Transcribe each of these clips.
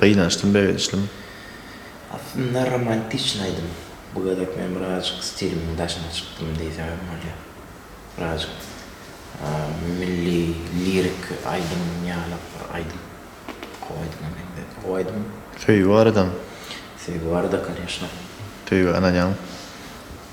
Gynançdym begençlimi? Aslynda romantiçny aýdym. Bu gezek men birazjyk stilimiň daşyna çykdym diýsem hem bolýar. Birazjyk milli lirik aýdym ýaly bir aýdym. Gowy aýdyma meňzedi. Gowy aýdym. Söýgi baradamy? Söýgi barada, koneşna. Söýgä ynanýaňmy?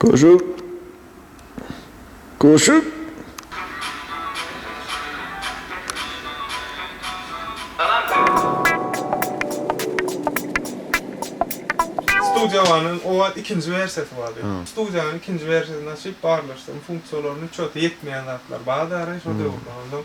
Goşup, goşup. Studiowanyň owal ikinji wersiýasy bardy. Studiowanyň ikinji wersiýasyny açyp barlaşdyrym funksiýalaryny çöti ýetmeýän zatlar bardary şo döwürler ondan.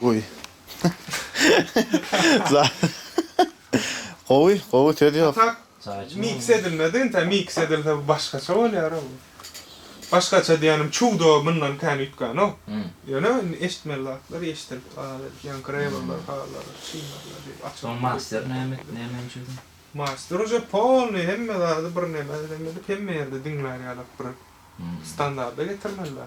Gowy. Gowy, gowy söz ýok. Atak mix edilmedi, intä mix edilse bu başgaça bolýara bu. Başgaça diýýänim çudo mundan kän üýtgänok. Ýöne indi eşitmeli zatlar eşidilip galar edip ýaňy grewerler halar çynarlar diýip açyp. Soň master näme etdi, näme üçin çözüň? Master uje polny hemme zady bir neme edem edip hemme ýerde diňlär ýalak bir standarda getirmeli da.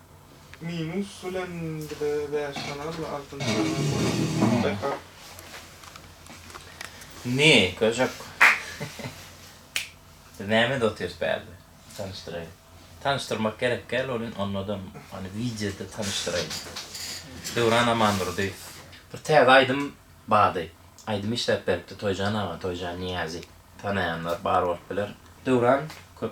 Minus bilen bize bäş sany aldy, altynjy sany almady. Back-up. Indi, köşek. Biz nämede otyrys bärde? Tanyşdyraýyn. Tanyşdyrmak gerek däl, ol indi onnodan, ony wideoda tanyşdyraýyn. Döwran Amandurdy. Bir täze aýdym bardy. Aýdym işläp beripdi Toýjan aga, Toýjan Niýazi. Tanaýanlar bar bolup biler. Döwran köp.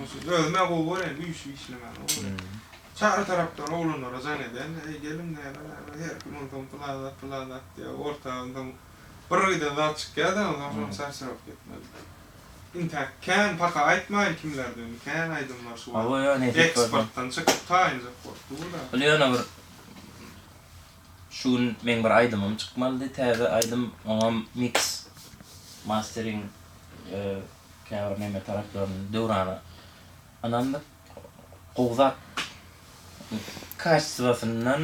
Onsuz özüm-ä gowy görýän, güýçli işlemäni gowy görýän. Çary tarapdan oglanlara jaň edýän-de, Eý, geliň, näme, näme, her kim onsoň pylan zat, pylan zat diýýär, orta onsoň bir giden zat çykýar-da, onsoň şonda çarçaryp gitmeli. Intäk kän, paka aýtmaýyn kimlerde indi, kän aýdym bar şu wagt. Eksportdan çykyp taýynjak bolup dur-da. Ol ýöne bir Şu gün meň bir aýdymym çykmalydy täze aýdym oňam miks mastering käbir neme taraplaryn Döwrana ynandyk gowy zat kaçswasyndan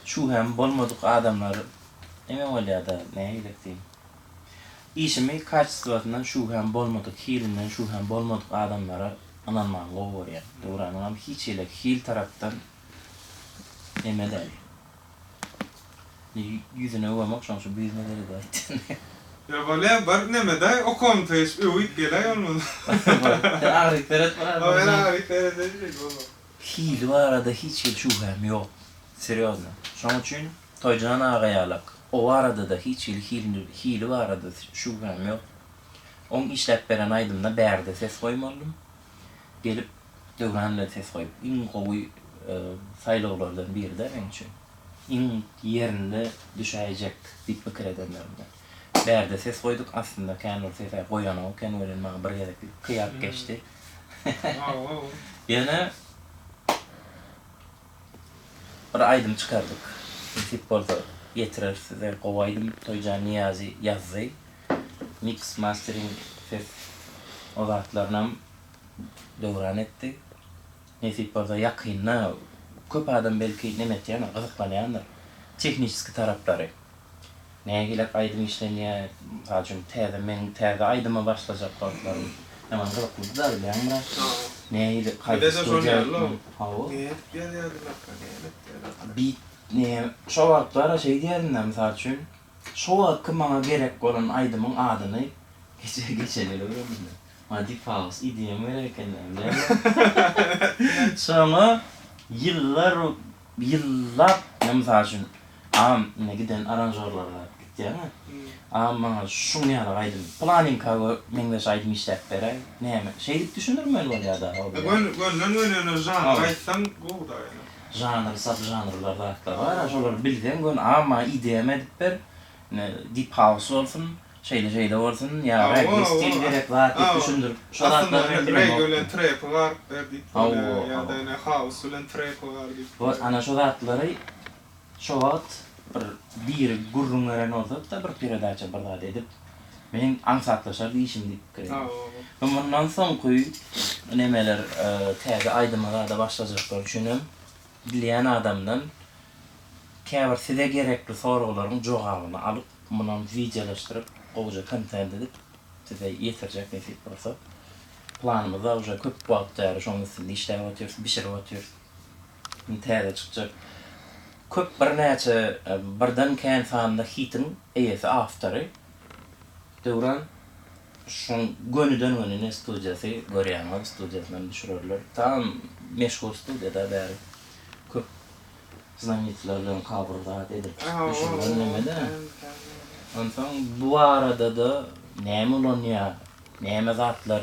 şu hem bolmadyk adamlar neme bolýada näme gerek diýiň işimi kaçswasyndan şu hem bolmadyk hilinden şu hem bolmadyk adamlara ynanmagyny gowy görýän Döwranyňam hiç hili hil tarapdan Emeleý. Ýüzüne öwemok şoň şu büzme geledi aýtdy. Öwele bir nemedaý okamysa hiç öwüp geläý bolmasa. Sen agyryp seret biraz. Ol men agyryp seredeýin bolma. Hili barada hiç hili şübhäm ýok. Serýozno. Şoň üçin Toýjan aga ýalak. O barada-da hiç hili hilini hili barada şübhäm ýok. Oň işläp beren aýdymyna bärde ses goýmalydym. Gelip Döwran bilen ses goýup iň gowy saýlawlardan biride meň üçin. Iň ýerinde düşäýjek diýip pikir edenlerimden. Bärde ses goýduk, aslynda kän bir ses-ä goýanok eken welin maňa bir gezeklik kyýap geçdi. Ýöne bir aýdym çykardyk. Nesip bolsa ýetireris size. Gowy aýdym Toýjan Niýazi ýazdy. Miks, mastering, ses o zatlarynam döwran etdi. Nesip bolsa ýakynda köp adam belki neme etýändir, gyzyklanýandyr. Tehniçeskiý taraplary. Nägiläp aýdym işlenýär. Mysal üçin täze meň täze aýdyma başlajak wagtlarym ýaman gyzyklydy-da bilýäňmi? Nähili haýsy studiýa gitmeli? Hawa. Neme edip ýazýardylar-ka, näme etýärler-ka? Beat nä şo wagtlar şeýdýärin-dä, mysal üçin. Şo wagtky maňa gerek bolan aýdymyň adyny geçe geçeli öwrendim men. Maňa Diphaus EDM gerek ekenini bilemok. Soňa ýyllar ýyllap men mysal üçin agam indi giden aranžorlara gitýäňä. Agam maňa şuň ýaly aýdym planinkaga meňzeş aýdym işläp beräý. Näme şeýdip düşündirmeli bolýar dagy o bir ýaly. Gönüden gönene žanr aýtsaň gowy dagy ýöne. Žanr saz žanrlar zatlar bar a şolary bilseň gön a maňa idea me edip ber ine dip haus bolsun şeýle şeýle bolsun ýa regge stil gerek zat diýip düşündirip şo zatlary men bilemok. Aslynda men regge bilen trepi garyp ber diýip bolýa ýada ine haus bilen trepi gar diýip bolýa. Wot ana şo zatlary şo wagt bir biri gürrüň beren bolsada bir peredaça bir zat edip. Meň aňsatlaşardy işim diýip pikir edýän. Mundan soňky nemeler täze aýdyma zada başlajaklar üçinem bilýän adamdan käbir size gerekli soraglaryň jogabyny alyp, munam wideolaşdyryp, gowja kontent edip size ýetirjek nesip bolsa. Planymyzda uje köp wagt bäri şoň üstünde işläp otyrys, bişirip otyrys. Indi täze çykjak köp birnäçe birden kän sanly hitiň eýesi awtory Döwran şoň gönüden göni ne studiýasy görýäňiz studiýasynam düşürerler tam meşhur studiýada bäri köp znamenitolar bilen kabr zat edilip düşürilen nemede onsoň bu baradada näme ulanýa näme zatlar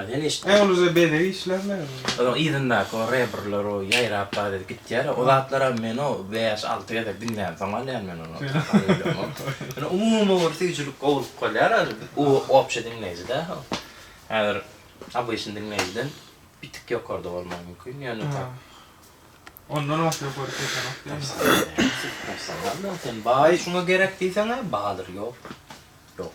Uluja bezeg işler näme bolýar? Onuň yzyndaky o rebrler o ýaýrap bar edip gitýär ya, o zatlaram men o bäş alty gezek diňlänsoň alýan men ony. Ýöne umumy bir süýjülik gowulyk bolýar ol u obşe diňleýji dä ol. Häzir obyçny diňleýjiden bir tik ýokarda bolmagy mümkin ýöne tak. Ondan oňat ýokary sesenok diýýäňiz. Professional da sen baý şuňa gerek diýseň-ä badyr ýok. Ýok.